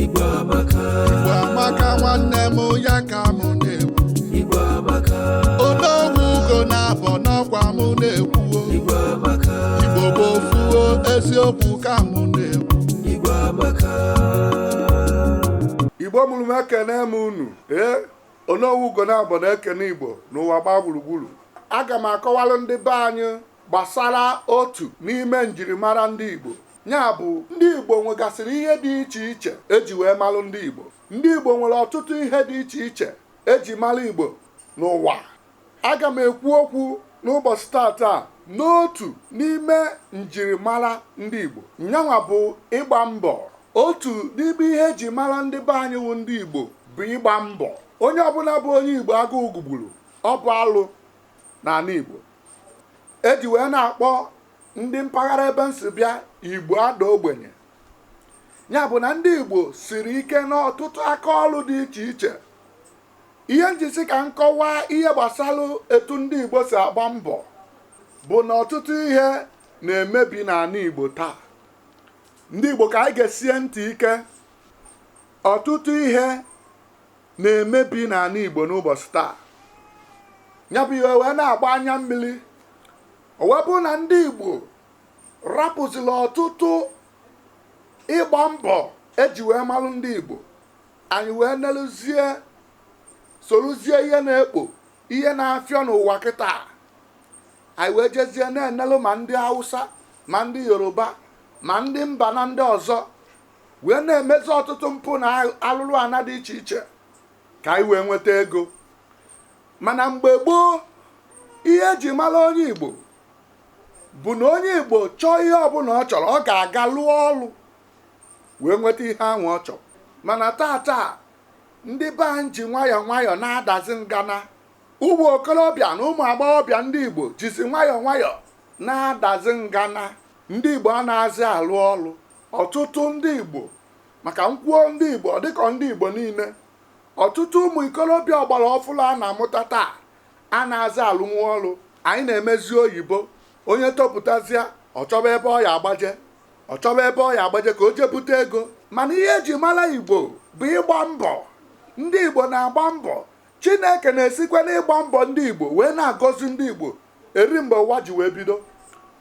Igbo amaka, Igbo amaka nwanne m ya ka mụ na-ekwu Igbo amaka, Onowu Ugonabọ n'ọkwa mụ na-ekwu o. Igbo amaka, Igbo bụ ofu o eziokwu ka mụ na-ekwu Igbo amaka. igbo mụrụ m ekene m unu ee Onowu Ugonabọ na-ekene igbo n'ụwa gbaa gburugburu aga m akọwalụ ndị be anyị gbasara otu n'ime njirimara ndị igbo Nya bụ, ndị Igbo nwegasịrị ihe dị iche iche e ji wee malụ ndị Igbo. Ndị Igbo nwere ọtụtụ ihe dị iche iche e ji mala Igbo n'ụwa. Aga m ekwu okwu n'ụbọsị taata n'otu n'ime njirimara ndị Igbo. Nyanwa bụ ịgba mbọ. Otu n'ime ihe eji mara ndị be anyị wụ ndị Igbo bụ ịgba mbọ. Onye ọbụla bụ onye Igbo agụụ gụgburu, ọ bụ alụ n'ana Igbo. E ji wee na-akpọ ndị mpaghara ebe m si bịa igbo ada ogbenye ya bụ na ndị igbo siri ike n'ọtụtụ aka ọrụ dị iche iche ihe m ji sị ka m kọwaa ihe gbasara etu ndị igbo si agba mbọ bụ na ọtụtụ ihe na-emebi n'ana igbo taa ndị igbo ka anyị gesie ntị ike ọtụtụ ihe na-emebi n'ana igbo n'ụbọsị taa nya bụ ihe wee na-agba anya mmili o wee bụrụ na ndị igbo rapụzila ọtụtụ ịgba mbọ eji wee malụ ndị igbo anyị wee neluzie soluzie ihe na-ekpo ihe na-afịọ n'ụwa kịta anyị wee jezie na-enelu ma ndị hausa ma ndị yoruba ma ndị mba na ndị ọzọ wee na-emezi ọtụtụ mpụ na alụlụ ana dị iche iche ka anyị wee nweta ego Mana mgbe gboo, ihe e ji mara onye Igbo bụ na onye Igbo chọọ ihe ọbụla ọ chọrọ, ọ ga-aga lụọ ọrụ wee nweta ihe ahụ ọ chọrọ. Mana tata, ndị be anyị ji nwayọọ nwayọọ na-adazi ngana. Ụmụ okorobịa na ụmụ agbọghọbịa ndị Igbo jizi nwayọọ nwayọọ na-adazi ngana. Ndị Igbo anazị alụ ọrụ. Ọtụtụ ndị Igbo, maka m kwuo ndị Igbo, ọ dịka ọ ndị Igbo niile, ọtụtụ ụmụ ikorobịa ọgbara ọfụrụ a na-amụta taa anazị alụnwu ọrụ anyị na-emezi oyibo onye topụtazịa ọ chọba ebe ọ ya-agbaje ọ chọba ebe ọ ya-agbaje ka o jee bute ego mana ihe eji mara igbo bụ ịgba mbọ ndị igbo na-agba mbọ chineke na-esikwa n'ịgba mbọ ndị igbo wee na-agọzi ndị igbo eri mgbe ụwa ji wee bido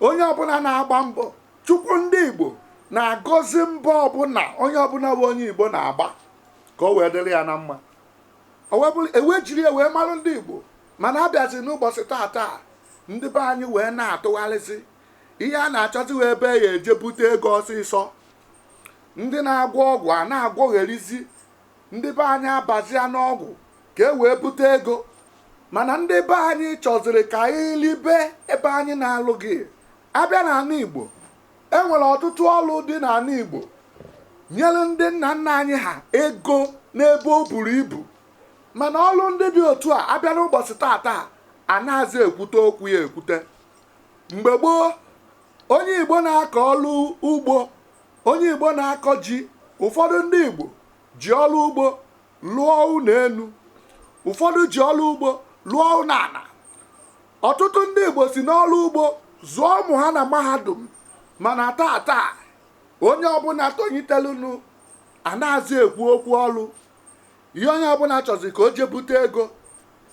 onye ọbụla na-agba mbọ chukwu ndị igbo na-agọzi mbọ ọbụla onye ọbụla bụ onye igbo na-agba ka o wee dịrị ya na mma ọ bụrụ e wee jiri ya wee marụ ndị igbo mana abịazi n'ụbọchị taa taa ndị be anyị wee na-atụgharịzi ihe a na-achọziwe ebe ya eje bute ego ọsịsọ ndị na-agwọ ọgwụ a na-agwọgherizi ndị be anyị abazia n'ọgwụ ka e wee bute ego mana ndị be anyị chọziri ka anyị libe ebe anyị na-alụghị abịa n'ana igbo E nwere ọtụtụ ọrụ dị n'ana Igbo nyere ndị nna nna anyị ha ego n'ebe o buru ibu mana ọrụ ndị dị otu a abịa n'ụbọchị taa taa anazị ekwute okwu ya ekwute mgbe gboo onye Igbo na-akọ ọrụ ugbo onye Igbo na-akọ ji ụfọdụ ndị Igbo ji ọrụ ugbo lụọ ụnọ enu ụfọdụ ji ọrụ ugbo lụọ ụnọ ana Ọtụtụ ndị Igbo si n'ọrụ ugbo zụọ ụmụ ha na mahadum mana taa taa onye ọbụla tonyitelunu anazị ekwu okwu ọrụ ihe onye ọbụla chọzi ka o je bute ego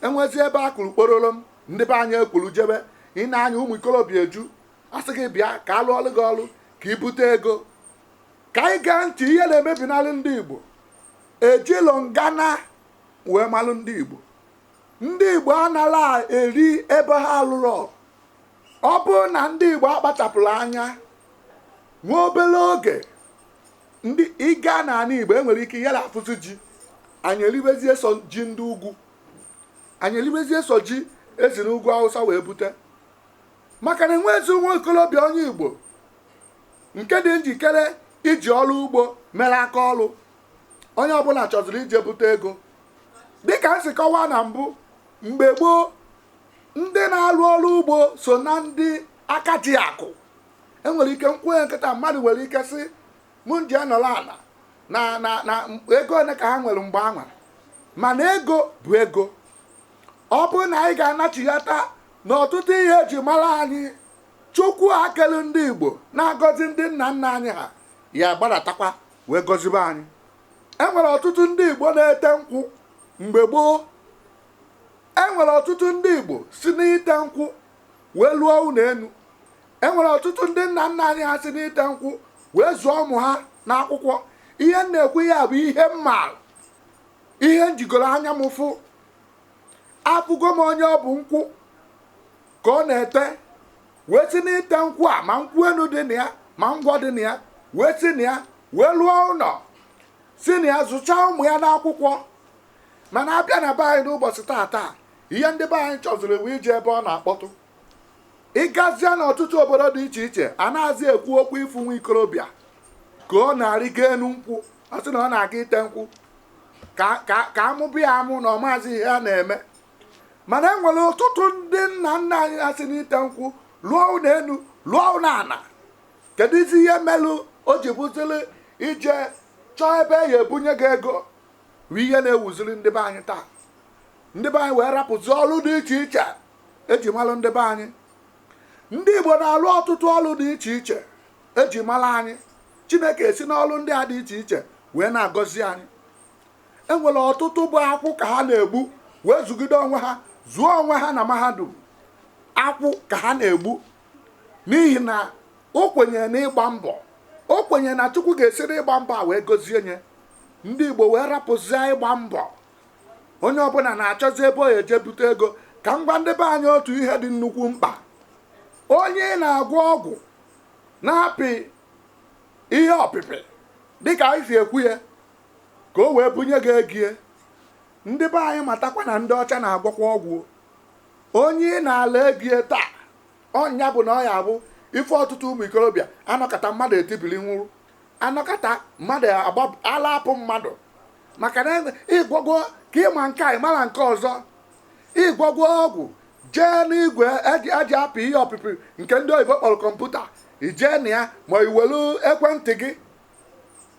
e nwezie ebe a kụrụ kpọrọrọm ndị be anyị ekwuru jebe ị nee anya ụmụ ikorobịa eju a sị gị bịa ka a lụọrụ gị ọrụ ka i bute ego ka anyị gee ntị ihe na-emebinalụ ndị Igbo ejilọ ngana wee malụ ndị Igbo ndị Igbo anala eri ebe ha alụrọ ọ bụrụ na ndị Igbo akpachapụrọ anya nwa obere oge ndị ị gaa n'ala Igbo enwere ike yara afụzi ji anyị eribezie sọ ji ndị ugwu anyị eribezie sọ ji e si n'ugwu Awụsa wee bute maka na enwezi nwa ikorobịa onye Igbo nke dị njikere iji ọrụ ugbo mere aka ọrụ onye ọbụla chọziri ije bute ego dịka m si kọwaa na mbụ mgbe gboo ndị na-arụ ọrụ ugbo so na ndị aka ji akụ enwere ike m kwunye kịta mmadụ nwere ike sị mụ m je nọrọ ala na na na ego ole ka ha nwere mgbe anwa mana ego bụ ego ọ bụrụ na anyị ga-anachighata na ọtụtụ ihe eji mara anyị chukwu a kelu ndị igbo na-agọzi ndị nna nna anyị ha ya-agbadatakwa wee gọzibe anyị e nwere ọtụtụ ndị igbo na-ete nkwụ mgbe gboo e nwere ọtụtụ ndị igbo si n'ite nkwụ wee lụọ ụnọ enu e nwere ọtụtụ ndị nna nna anyị ha si n'ite nkwụ wee zụọ ụmụ ha n'akwụkwọ ihe m na-ekwu ya bụ ihe m maara ihe m jigoro anya m fụ afụgo m onye ọ bụ nkwụ ka ọ na-ete wee si n'ite nkwụ a ma nkwụ enu dị na ya ma ngwọ dị na ya wee si na ya wee lụọ ụnọ si na ya zụchaa ụmụ ya n'akwụkwọ mana a bịa na be anyị n'ụbọchị taata ihe ndị be anyị chọziri bụ ije ebe ọ na-akpọtụ ị gazie n'ọtụtụ obodo dị iche iche a nazị ekwu okwu ị fụ nwa ikorobịa ka ọ na-arịgo enu nkwụ ọ sị na ọ na-aga ite nkwụ ka a mụba ya amụ na ọ maazị ihe a na-eme mana e nwere ọtụtụ ndị nna nna anyị ha si n'ite nkwụ lụọ ụnọ enu lụọ ụnọ ana keduzi ihe melu o ji bụzili ije chọọ ebe a ya-ebunye gị ego bụ ihe na-ewuziri ndị be anyị taa ndị be anyị wee rapụzi ọrụ dị iche iche e ji malụ ndị be anyị ndị igbo na-alụ ọtụtụ ọrụ dị iche iche e ji mara anyị chineke esi n'ọrụ ndị a dị iche iche wee na-agọzi anyị e nwere ọtụtụ bụ akwụ ka ha na-egbu wee zụgide onwe ha zụọ onwe ha na mahadum akwụ ka ha na-egbu n'ihi na o kwenyere n'ịgba mbọ o kwenyere na chukwu ga-esi n'ịgba mbọ a wee gọzie nye ndị igbo wee rapụzie ịgba mbọ onye ọbụna na-achọzi ebe ọ ya-eje bute ego ka m gwa ndị be anyị otu ihe dị nnukwu mkpa onye ị na-agwọ ọgwụ na-apị ihe ọpịpị dịka anyị si ekwu ya ka o wee bunye gị ego ya ndị be anyị matakwa na ndị ọcha na-agwọkwa ọgwụ onye ị na-ala ego ya taa ọ nya bụ na ọ ya bụ ife ọtụtụ ụmụ ikorobịa a nọkata mmadụ etibili nwụrụ a nọkata mmadụ ala apụ mmadụ maka na ị gwọgo ka ị ma nke a ị mara nke ọzọ ị gwọgo ọgwụ jee n'igwe e ji apị ihe ọpịpị nke ndị oyibo kpọrọ kọmputa i jee na ya ma i welu ekwentị gị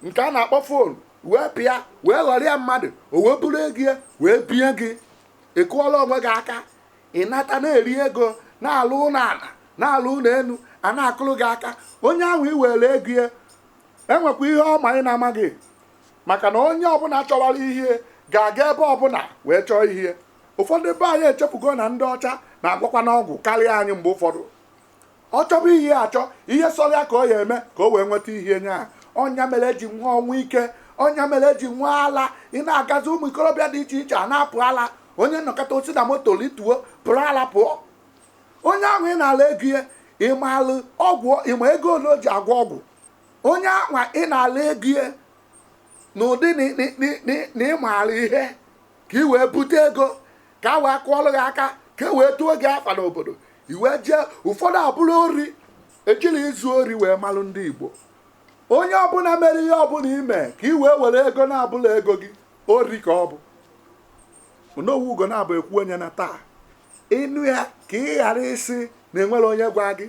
nke a na-akpọ fon wee pịa wee ghọrịa mmadụ o wee buru ego ya wee bie gị ị kụọla onwe gị aka ị nata na-eri ego na-alụ ụnọ ana na-alụ ụnọ enu a na-akụrụ gị aka onye ahụ i were ego ya enwekwa ihe ọ ma ị na-amaghị maka na onye ọbụna chọwara ihe ga-aga ebe ọbụna wee chọọ ihe ụfọdụ be anyị echefugo na ndị ọcha na-agwọkwanụ ọgwụ karịa anyị mgbe ụfọdụ Ọ chọba ihe ya achọ, ihe sọrọ ya ka ọ ya-eme ka o wee nweta ihe nye ahụ. Ọ nya mere e ji nwee ọnwụ ike, ọ nya mere e ji nwee ala. Ị na-agazi ụmụ ikorobịa dị iche iche a na-apụ ala. Onye nọkata o si na moto rituo, pụrụ ala pụọ. Onye ahụ ị na-ala ego ya, ị maalụ ọgwụ, ị ma ego ole o ji agwọ ọgwụ. Onye ahụ ị na-ala ego ya n'ụdị na ị maara ihe. ka i wee bute ego ka a wee kụọlụ gị aka ka e wee tuo gị afa n'obodo i wee jee ụfọdụ abụrụ ori ejiri izu ori wee malụ ndị igbo onye ọbụla mere ihe ọbụla ime ka i wee were ego na-abụla ego gị ori ka ọ bụ onowu ugonabọ ekwuo ya na taa ị nụ ya ka ị ghara ịsị na enwere onye gwa gị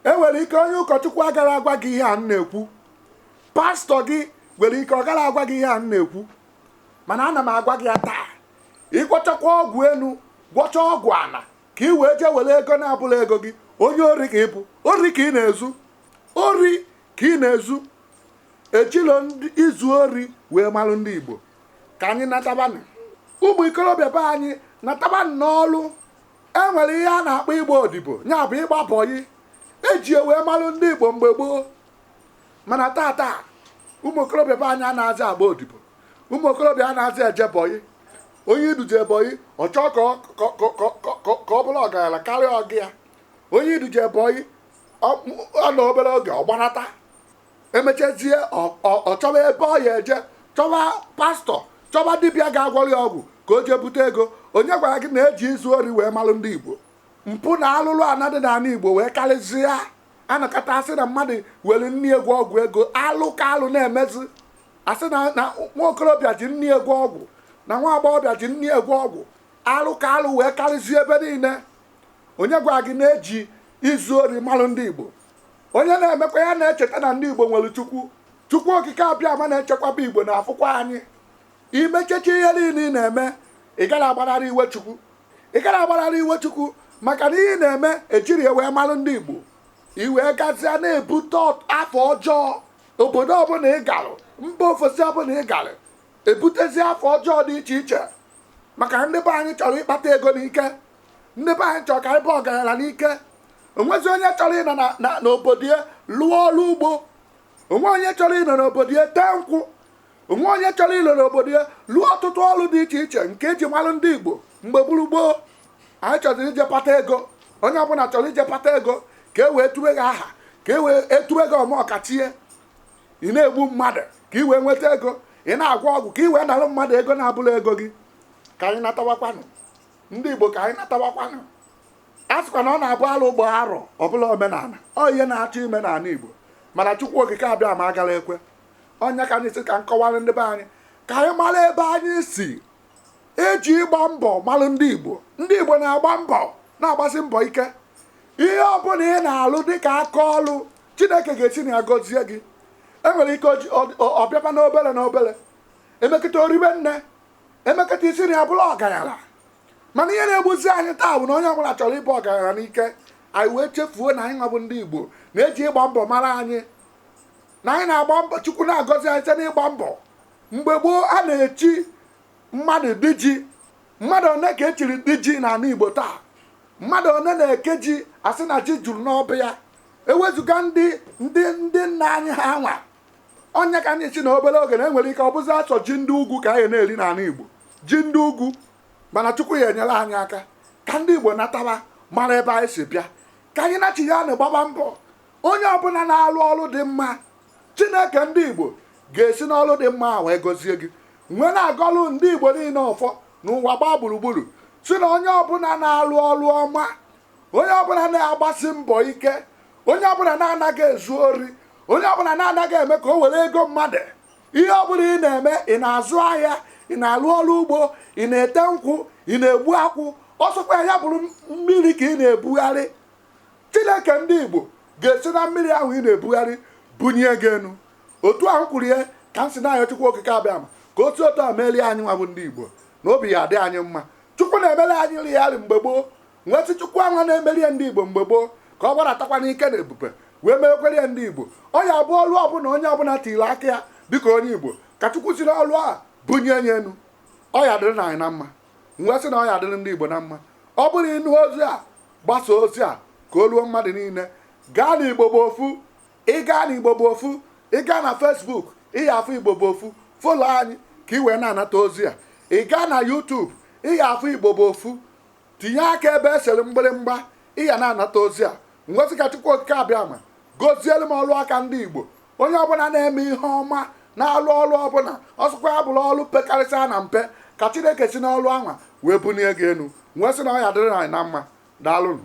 enwere ike onye ụkọchukwu agara agwa gị ihe a m na-ekwu pastọ gị nwere ike ọ gara agwa gị ihe a m na-ekwu mana ana m agwa gị ya taa ịgwọchakwa ọgwụ enu gwọcha ọgwụ ana ka ị wee jee were ego na-abụla ego gị onye ori ka ị bụ ori ka ị na-ezu ori ka ị na-ezu ejilo izu ori wee malụ ndị igbo ka anyị natabanụ ụmụ ikorobịa be anyị natabanụ n'ọlụ e nwere ihe a na-akpọ ịgba odibo ya bụ ịgba bọyị eji wee malụ ndị igbo mgbe gboo mana taa taa ụmụ okorobịa be anyị anazị agba odibo ụmụ okorobịa anazị eje bọyị onye i duje bọyị ọ chọọ ka ọ- ka- ka- ka- ka- ka- ka ọ bụrụ ọgaranya karịa ọga ya onye i duje bọyị ọ- ọ nọ obere oge ọ gbanata emechezie ọ- ọ ọ chọba ebe ọ ya-eje chọba pastọ chọba dibịa ga-agwọrọ ya ọgwụ ka o jee bute ego onye gwara gị na eji izu ori wee malụ ndị igbo mpụ na alụlụ ana dị n'ala igbo wee karịzịa anọkata asị na mmadụ were nne ya gwọọ ọgwụ ego alụ ka alụ na-emezi asị na na nwa okorobịa ji nne ya gwọọ ọgwụ na nwa agbọghọbịa ji nne ya gwọọ ọgwụ alụ ka alụ wee karịzie ebe niile onye gwa gị na eji izu ori malụ ndị igbo onye na-emekwa ya na-echeta na ndị igbo nwere chukwu chukwu okike abịama na-echekwaba igbo na-afụkwa anyị i mechecha ihe niile ị na-eme ị gara agbanarị iwe chukwu ị gara agbanarị iwe chukwu maka na ihe ị na-eme ejiri ya wee malụ ndị igbo i wee gazie na-ebute ọt- afa ọjọọ obodo ọbụla ị garụ mba ofesi ọbụla ị garụ ebutezi afa ọjọọ dị iche iche maka ndị be anyị chọrọ ịkpata ego n'ike ndị be anyị chọrọ ka anyị baa ọgaranya n'ike onwezi onye chọrọ ịnọ na- na- n'obodo ya lụọ ọrụ ugbo onwe onye chọrọ ịnọ n'obodo ya tee nkwụ onwe onye chọrọ ịnọrọ obodo ya lụọ ọtụtụ ọrụ dị iche iche nke eji malụ ndị Igbo mgbe gburu gboo anyị chọrọ ije kpata ego onye ọbụla chọrọ ije kpata ego ka e wee tube gị aha ka e wee etube gị omeọkachie ị na-egbu mmadụ ka ị wee nweta ego ị na-agwọ ọgwụ ka ị wee nalụ mmadụ ego na-abụla ego gị ka anyị natawakwanụ ndị Igbo ka anyị natawakwanụ a sịkwa na ọ na-abụ alụ gbaa arọ ọ bụlụ omenala ọ ihe na-achọ ime n'ala Igbo mana Chukwu Okike Abịama agala ekwe ọ nya ka m ji sị ka m kọwara ndị be anyị ka anyị mara ebe anyị si e ji ịgba mbọ malụ ndị igbo ndị igbo na-agba mbọ na-agbasi mbọ ike ihe ọbụla ị na-alụ dịka aka ọlụ chineke ga-esi na ya gọzie gị e nwere ike oji- ọ- ọ- ọ bịaba n'obere na obere e mekata o ribe nne e mekata i si na ya bụrụ ọgaranya mana ihe na-egbuzi anyị taa bụ na onye ọbụla chọrọ ịbụ ọgaranya n'ike anyị wee chefuo na anyị nwa bụ ndị igbo na e ji ịgba mbọ mara anyị na anyị na-agba mbọ chukwu na-agọzi anyị site n'ịgba mbọ mgbe gboo a na-echi mmadụ di ji mmadụ one ka e chiri di ji n'ala igbo taa mmadụ one na-eke ji a sị na ji juru n'ọba ya ewezụga ndị ndị ndị nna anyị ha nwa ọ ya ka m ji sị na obere oge na e nwere ike ọ bụzi sọ ji ndị ugwu ka anyị na-eri n'ala igbo ji ndị ugwu mana chukwu ya enyere anyị aka ka ndị igbo nataba mara ebe anyị si bịa ka anyị nachiyanụ gbaba mbọ Onye ọbụla na-alụ ọrụ dị mma, Chineke ndị Igbo ga-esi n'ọrụ dị mma a wee gọzie gị. M wee na-agọlụ ndị Igbo niile ọfọ n'ụwa gbaa gburugburu si na onye ọbụla na-alụ ọrụ ọma, onye ọbụla na-agbasi mbọ ike, onye ọbụla na-anaghị ezu ori, onye ọbụla na-anaghị eme ka o were ego mmadụ. Ihe ọbụla ị na-eme, ị na-azụ ahịa, ị na-alụ ọrụ ugbo, ị na-ete nkwụ, ị na-egbu akwụ, ọ sọkwa ya bụrụ mmiri ka ị na-ebugharị. chineke ndị igbo ga-esi na mmiri ahụ ị na-ebugharị bunye gị enu otu ahụ kwuru ya ka m si na-ayọ chukwu okike abịama ka otu otu a merie anyị nwa bụ ndị igbo na obi ya adị anyị mma chukwu na-emere anyị eri mgbe gboo m wee sị chukwu anwa na-emere ndị igbo mgbe gboo ka ọ gbaratakwa n'ike na ebube wee meekwara ndị igbo ọ ya bụ ọlụ ọbụla onye ọbụla tiri aka ya dịka onye igbo ka chukwu si n'ọlụ a bunye ya enu ọ ya adịrịnụ anyị na mma wee sị na ọ ya adịrị ndị Igbo na mma ọ bụrụ ị nụ ozi a gbasa ozi a ka o ruo mmadụ niile gaa na Igbo bụ ofu ị gaa na Igbo bụ ofu ị gaa na Facebook ị ya afụ Igbo bụ ofu folo anyị ka ị wee na-anata ozi a ị gaa na YouTube ị ya afụ Igbo bụ ofu tinye aka ebe e sere mgbịrịmgba ị ya na-anata ozi a m wee sị ka Chukwu Okike abịama gozielu m ọrụ aka ndị Igbo onye ọbụla na-eme ihe ọma na-alụ ọlụ ọbụla ọ sọkwa ya bụrụ ọlụ pekarịsịa na mpe ka chineke si n'ọlụ anwa wee bunie gị enu wee sị na ọ ya adịrị anyị na mma daalụnụ